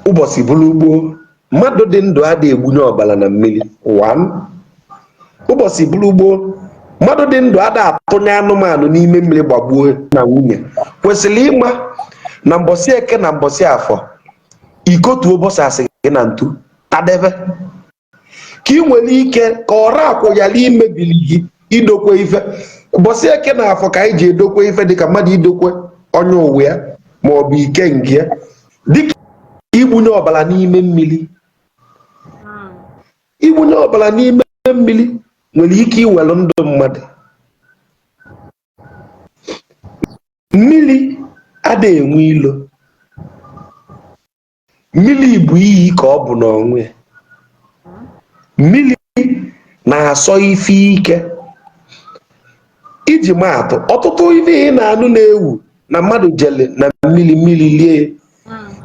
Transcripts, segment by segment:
ụbọchị bụrụ gboo mmadụ dị ndụ ada egbunye ọbala na mmiri one ụbọchị bụrụ gboo mmadụ dị ndụ ada atụnye anụmanụ n'ime mmiri gbagbuo na nwunye kwesịrị ịma na mbọsị eke na mbọsị afọ ikotu ụbọchị a sị gị na ntu tadebe ka ị nwere ike ka ọra akwụ ghara imebiri gị idokwe ife mbọsị eke na afọ ka anyị ji edokwe ife dịka mmadụ idokwe onye ụwa ya ma ọ bụ ike nke ya dịka igbunye ọbara n'ime mmiri igbunye ọbara n'ime mmiri nwere ike iwere ndụ mmadụ mmiri ada enwe ilo mmiri bụ iyi ka ọ bụ n'onwe ya mmiri na-asọ ife ike iji maatụ ọtụtụ ife ị na-anụ na-ewu na mmadụ jele na mmiri mmiri lie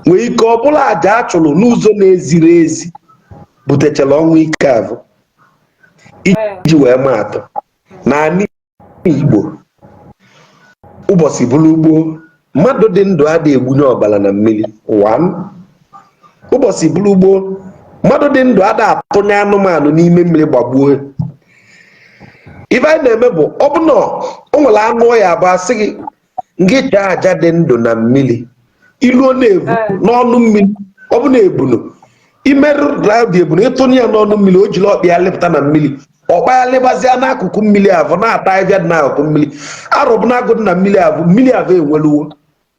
nwere ike ọ bụlụ aja a chụrụ n'ụzọ na-ezighi ezi butechara ọnwụ ike avụ iji wee maatụ na Igbo ụbọchị bụrụ gboo mmadụ dị ndụ ada egbunye ọbala na mmiri one ụbọchị bụrụ gboo mmadụ dị ndụ ada atụnye anụmanụ n'ime mmiri gbagbuo ife anyị na-eme bụ ọ bụ na o nwere anụ ọ ya-abụ a sị gị ngị chụa aja dị ndụ na mmiri i luo na-ebu n'ọnụ mmiri ọ bụ na ebunu imerụ raụdị ebunu ị tụnye ya n'ọnụ mmiri o jiri ọkpa ya lịpụta na mmiri ọ kpayalịbazịa n'akụkụ mmiri avụ na-ata ahịhịa dị n'akụkụ mmiri arụbụnagụ dị na mmiri avụ mmiri avụ enweluwo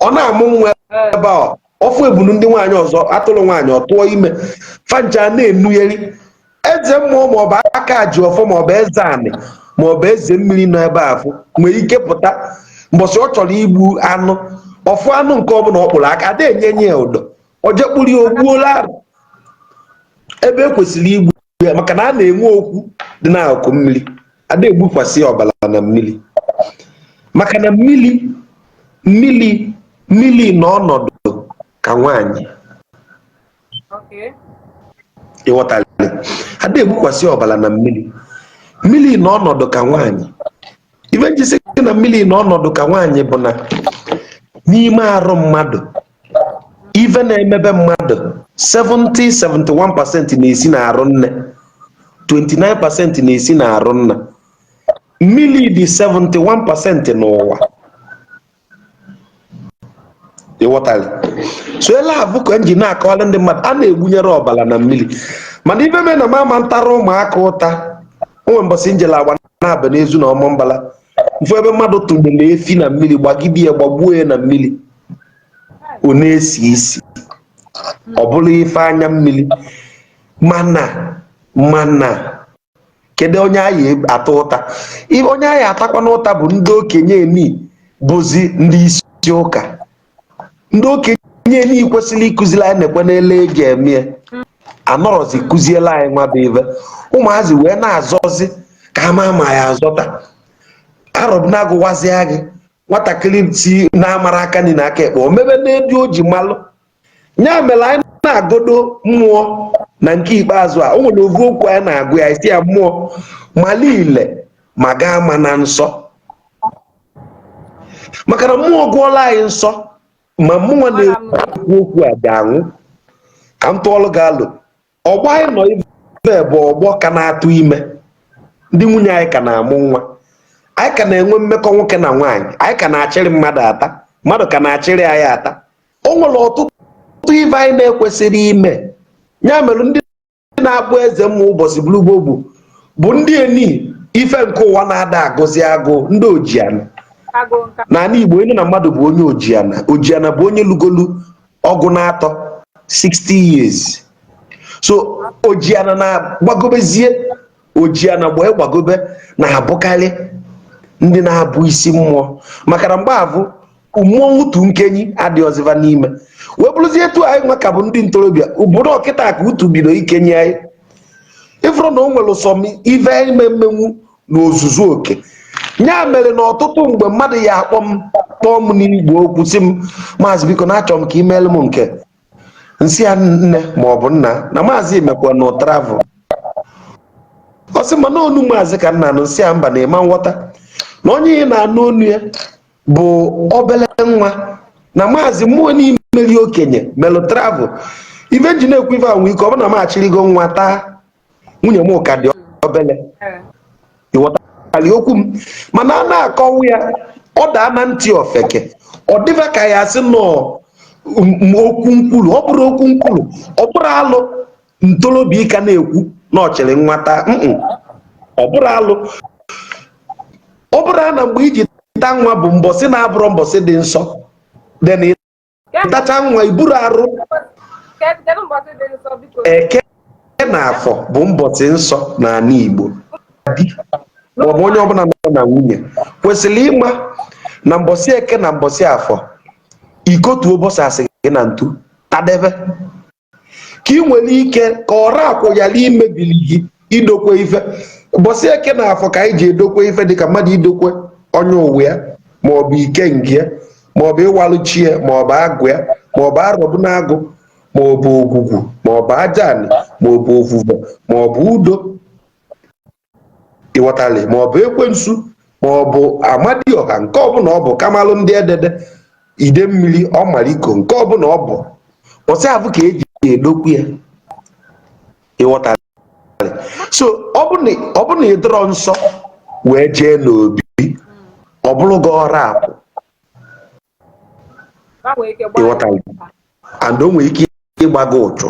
ọ na-amụ nwa ebe a ọfụ ebunu ndị nwaanyị ọzọ atụrụ nwaanyị ọ tụọ ime fancha na-enugheri eze mmụọ maọbụ aka ji ọfọ maọbụ eze anị maọbụ eze mmiri nọ ebe afụ nwere ike pụta mbọsị ọ chọrọ igbu anụ ọfụ anụ nke ọbụla ọ kpụrụ aka ada enye nye ya ụdọ o je kpụrụ ya o gbuolo arụ ebe e kwesịrị igbu ya maka na a na-enwe okwu dị n'akụkụ mmiri ada egbukwasị ọbara na mmiri maka na mmiri mmiri mmiri nọ ọnọdụ ka nwaanyị ịghọtara ada egbukwasị ọbara na mmiri mmiri nọ ọnọdụ ka nwaanyị ife nji sị na mmiri nọ ọnọdụ ka nwaanyị bụ na n'ime arụ mmadụ ife na-emebe mmadụ 70 71% na-esi n'arụ nne 29% na-esi n'arụ nna mmiri dị 71% n'ụwa ịghọtara so ele avụ ka nji na-akọwara ndị mmadụ a na-egbunyerọ ọbara na mmiri mana ife mee na mama ntara ụmụaka ụta o nwe mbọsị njele Agbanabọ Ezu na Ọmambala m fụ ebe mmadụ tụnyere efi na mmiri gbagide ya gbagbuo ya na mmiri ọ na-esi isi ọ bụrụ ife anya mmiri mana mana kedu onye anyị ata ụta onye anyị atakwanụ ụta bụ ndị okenye eni bụzi ndị isi ụka ndị okenye eni kwesịrị ịkụziri anyị na-ekwe n'ele e ji eme anọrọzi kụziere anyị nwa bụ ive ụmụazị wee na-azọzi ka ha ma ma ya azọta arọ bụ na agwazie gị nwatakịrị si na-amara aka nri na aka ekpe o mebe n'etu o ji malụ ya mere anyị na-agọdo mmụọ na nke ikpeazụ a o nwere ovu okwu anyị na-agwa ya sị ya mmụọ malụ ile ma gị amana nsọ maka na mmụọ gụọlụ anyị nsọ ma mụwa na-ekwu okwu a ga-anwụ ka m tụọlụ gị alo ọgbọ anyị nọ ibe bụ ọgbọ ka na-atụ ime ndị nwunye anyị ka na-amụ nwa anyị ka na-enwe mmekọ nwoke na nwaanyị anyị ka na-achịrị mmadụ ata mmadụ ka na-achịrị anyị ata o nwere ọtụtụ ive anyị na-ekwesịrị ime ya mere ndị na-abụ eze mmụọ ụbọsị bụrụ gboo gboo bụ ndị eni ife nke ụwa na-ada agụzi agụụ ndị ojiana n'anị Igbo ị nụ na mmadụ bụ onye ojiana ojiana bụ onye lugolu ọgụ n'atọ 60 years so ojiana na gbagobezie ojiana gbaa gbagobe na-abụkarị ndị na-abụ isi mmụọ maka na mgbe avụ mmụọ utu nkenyi adịrọzi va n'ime wee bụrụzie etu anyị nwa ka bụ ndị ntorobịa ọ bụrụ kịta ka utu bido ikenyi anyị ị vụrụ na o nwere some ive anyị ma emenwu n'ozuzu oke ya mere na ọtụtụ mgbe mmadụ ya-akpọ m kpọọ m n'igwe okwu sị m maazị biko na achọrọ m ka i meelụ m nke m sị ya nne ma ọ bụ nna na maazị emekwana travel ọ sị mana onu maazị ka m na-anụ m sị ya mba na ị ma aghọta na onye ị na-anụ onu ya bụ obele nwa na maazị mmụọ n'imeri okenye melụ travel ive m ji na-ekwu ife ahụ ike ọ bụ na m achịrịgo nwata nwunye m ka dị obele ị ghọtalị okwu m mana a na-akọwa ya ọ daa na ntị ofeke ọ dịba ka a sị na ọ okwu nkwulu ọ bụrọ okwu nkwulu ọ bụrọ alụ ntorobịa ịka na-ekwu na ọ chịrị nwata ọ bụrọ alụ ọ bụrụ na mgbe i ji ta nwa bụ mbọsị na-abụrọ mbọsị dị nsọ tacha nwa i buru arụ eke na afọ bụ mbọsị nsọ n'ana Igbo ma ọ bụ onye ọbụla nọ na nwunye kwesịrị ịma na mbọsị eke na mbọsị afọ ikotu ụbọchị asị gị na ntu tadebe ka ị nwere ike ka ọra akwụ ghara imebiri gị idokwe ife mbọsị eke na afọ ka anyị ji edokwe ife dịka mmadụ idokwe onye ụwa ya maọbụ ikenga ya maọbụ ịwalụ chi ya maọbụ agwụ ya maọbụ arọbụnagụ maọbụ ogwugwu maọbụ aja anị maọbụ ovuve maọbụ udo ịghọtali ma ọ bụ ekwensu ma ọ bụ amadioha nke ọbụna ọ bụ kamalụ ndị edede ide mmiri ọmaliko nke ọbụna ọ bụ mbọsị afụ ka eji edokwe ya ịghọtali so ọ bụ na ị dọrọ nsọ wee jee n'obi ọ bụrụ gị ọra akwụ ịghọtali and o nwere ike ịgba gị ụchụ